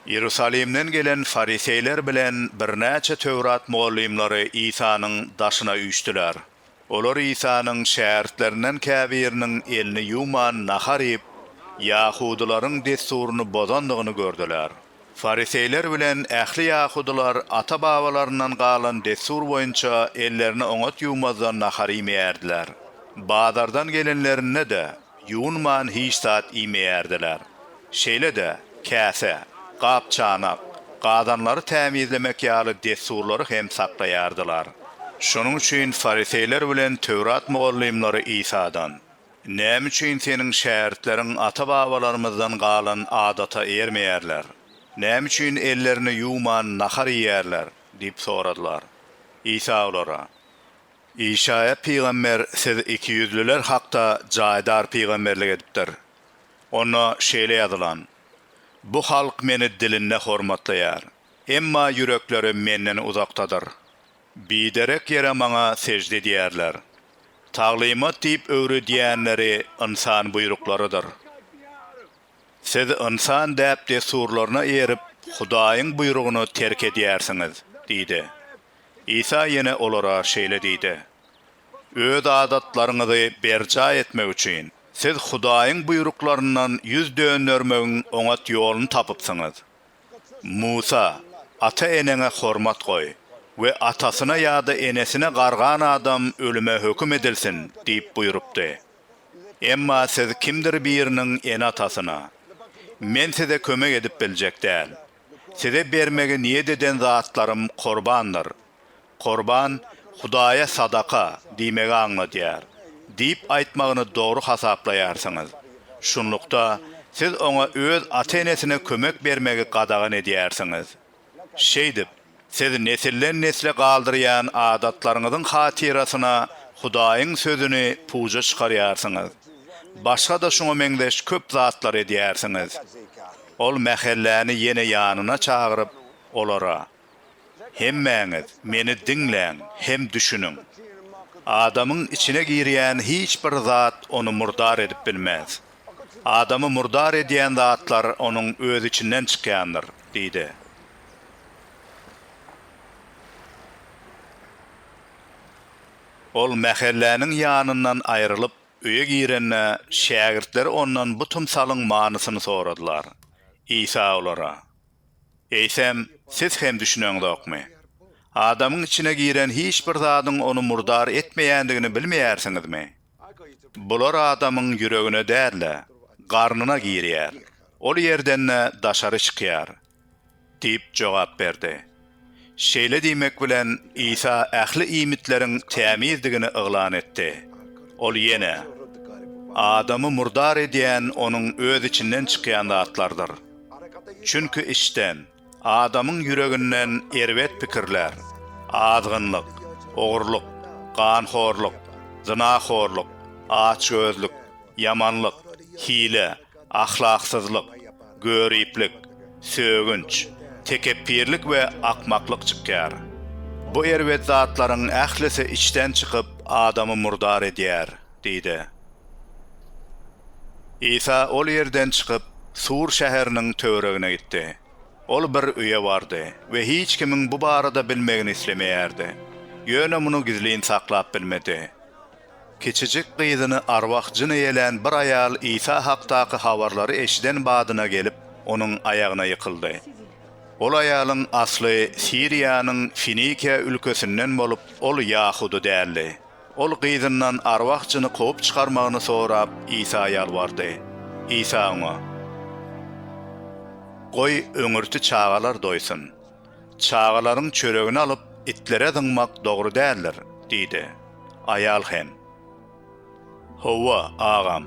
Iýerusalimden gelen fariseýler bilen birnäçe Töwrat mugallymlary Isanyň daşyna üýşdüler. Olar Isanyň şägirtlerinden käbiriniň elini ýuwman nahar iýip, ýahudylaryň dessuryny bozandygyny gördüler. Fariseýler bilen ähli ýahudylar ata-babalaryndan galan dessur boýunça ellerini oňat ýuwmazdan nahar iýmeýärdiler. Bazardan gelenlerinde-de. Ýuwunman hiç zat iýmeýärdiler. Şeýle-de, käse, gap-çanak, gazanlary tämizlemek ýaly dessurlary hem saklaýardylar. Şonuň üçin fariseýler bilen Töwrat mugallymlary Isadan, Näme üçin Seniň şägirtleriň ata-babalarymyzdan galan adata eýermeýärler? Näme üçin ellerini ýuwman nahar iýýärler? diýip soradylar. Isa olara, Işaýa pygamber siz ikiýüzlüler hakda jaýdar pygamberlik edipdir. Onda şeýle ýazylan, Bu halk Meni dilinde hormatlaýar, emma ýürekleri Menden uzakdadyr. Biderek ýere Maňa sežde edýärler. Taglymat diýip öwredýänleri ynsan buýruklarydyr. Siz ynsan däp-dessurlaryna eýerip, Hudaýyň buýrugyny terk edýärsiňiz diýdi. Isa ýene olara şeýle diýdi, Öz adatlaryňyzy berjaý etmek üçin, siz Hudaýyň buýruklaryndan ýüz döndermegiň oňat ýoluny tapypsyňyz. Musa, Ata-eneňe hormat goý we atasyna ýa-da enesine gargan adam ölüme höküm edilsin diýip buýrupdy. Emma siz kimdir biriniň ene-atasyna, Men size kömek edip biljek däl. Size bermegi niýet eden zatlarym korbandyr. Korban, Hudaýa sadaka diýmegi aňladýar diýip aýtmagyny dogry hasaplaýarsyňyz. Şunlukda, siz oňa öz ata-enesine kömek bermegi gadagan edýärsiňiz. Şeýdip, siz nesilden-nesle galdyrýan adatlaryňyzyň hatyrasyna Hudaýyň Sözüni puja çykarýarsyňyz. Başga-da şuňa meňzeş köp zatlar edýärsiňiz. Ol mähelläni ýene ýanyna çagyryp, olara, Hemmäňiz meni diňläň hem düşüniň. Adamyň içine girýän hiç bir zat ony murdar edip bilmez. Adamy murdar edýän zatlar onuň öz içinden çykýandyr, diýdi. Ol mähelläniň ýanyndan aýrylyp, öýe girende, şägirtleri ondan bu tymsalyň manysyny soradylar. Isa olara. Eýsem, siz hem düşüneňzokmy? Adamyň içine giren hiç bir zadyň ony murdar etmeýändigini bilmeýärsiňizmi? Bular adamyň ýüregine däl-de, garnyna girýär, ol ýerden-de daşary çykýar, diýip jogap berdi. Şeýle diýmek bilen, Isa ähli iýmitleriň tämizdigini yglan etdi. Ol ýene, Adamy murdar edýän onuň öz içinden çykýan zatlardyr. Çünki içden, adamyň ýüreginden erbet pikirler, azgynlyk, ogurlyk, ganhorluk, zynahorluk, açgözlük, ýamanlyk, hile, ahlaksyzlyk, göriplik, sögünç, tekepbirlik we akmaklyk çykýar. Bu erbet zatlaryň ählisi içden çykyp, adamy murdar edýär diýdi. Isa ol ýerden çykyp, Sur şäheriniň töweregine gitdi. Ol bir öýe bardy we hiç kimiň bu barada bilmegini islemeýärdi. Ýöne muny gizlin saklap bilmedi. Kiçijik gyzyny arwah-jyn eýelän bir aýal Isa hakdaky habarlary eşiden badyna gelip, onuň aýagyna ýykyldy. Ol aýalyň asly Siriýanyň Finikiýa ülkesinden bolup, ol ýahudy däldi. Ol gyzyndan arwah-jyny kowup çykarmagyny sorap, Isa ýalbardy. Isa oňa, Goý, öňürti çagalar doýsun. Çagalaryň çöregini alyp, itlere zyňmak dogry däldir, diýdi. Aýal hem. Hawa, agam.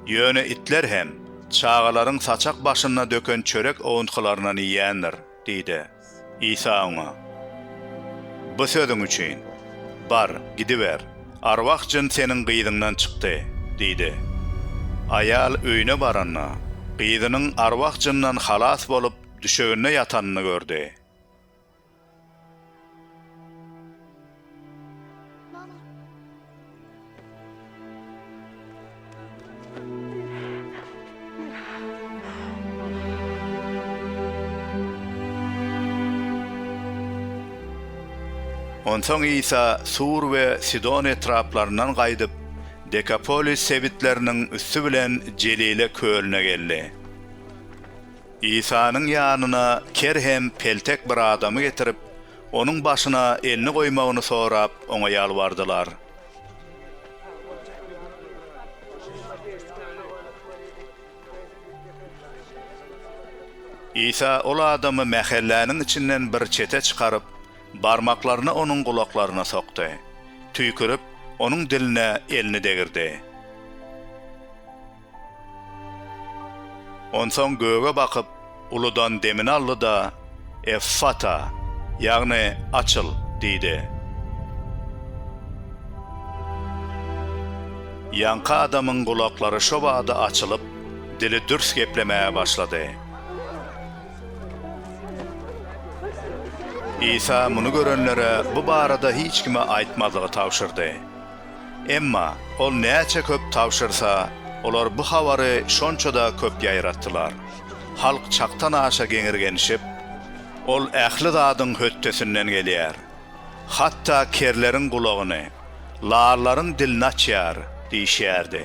Ýöne itler hem çagalaryň saçak başynda döken çörek owuntgylaryndan iýendir, diýdi. Isa oňa. Bu sözüň üçin, bar, gidiber, arwah jyn seniň gyzyňdan çykdy, diýdi. Aýal öýüne baranda, gyzynyň arwah jyndan halas bolup, Düşeginde ýatanyny gördi. Onsoň Isa Sur we Sidon etraplaryndan gaýdyp, Dekapolis sebitleriniň üsti bilen Jelile kölüne geldi. Isanyň ýanyna ker hem peltek bir adamy getirip, onuň başyna elini goýmagyny sorap, oňa ýalbardylar. Isa ol adamy mähelläniň içinden bir çete çykaryp, barmaklaryny onuň gulaklaryna sokdy. Tüýkürip, onuň diline elini degirdi. Onsoň göge bakyp, uludan demini aldy-da, Effata, ýagny Açyl! diýdi. Ýaňky adamyň gulaklary şo bada açylyp, dili dürs geplemäge başlady. Isa muny görenlere bu barada hiç kime aýtmazlygy tabşyrdy. Emma ol näçe köp tabşyrsa, olar bu habary şonça-da köp ýaýratdylar. Halk çakdan-aşa geňirgenişip, Ol ähli zadyň hötdesinden gelýär. Hatda kerleriň gulagyny, larlaryň dilini açýar diýişýärdi.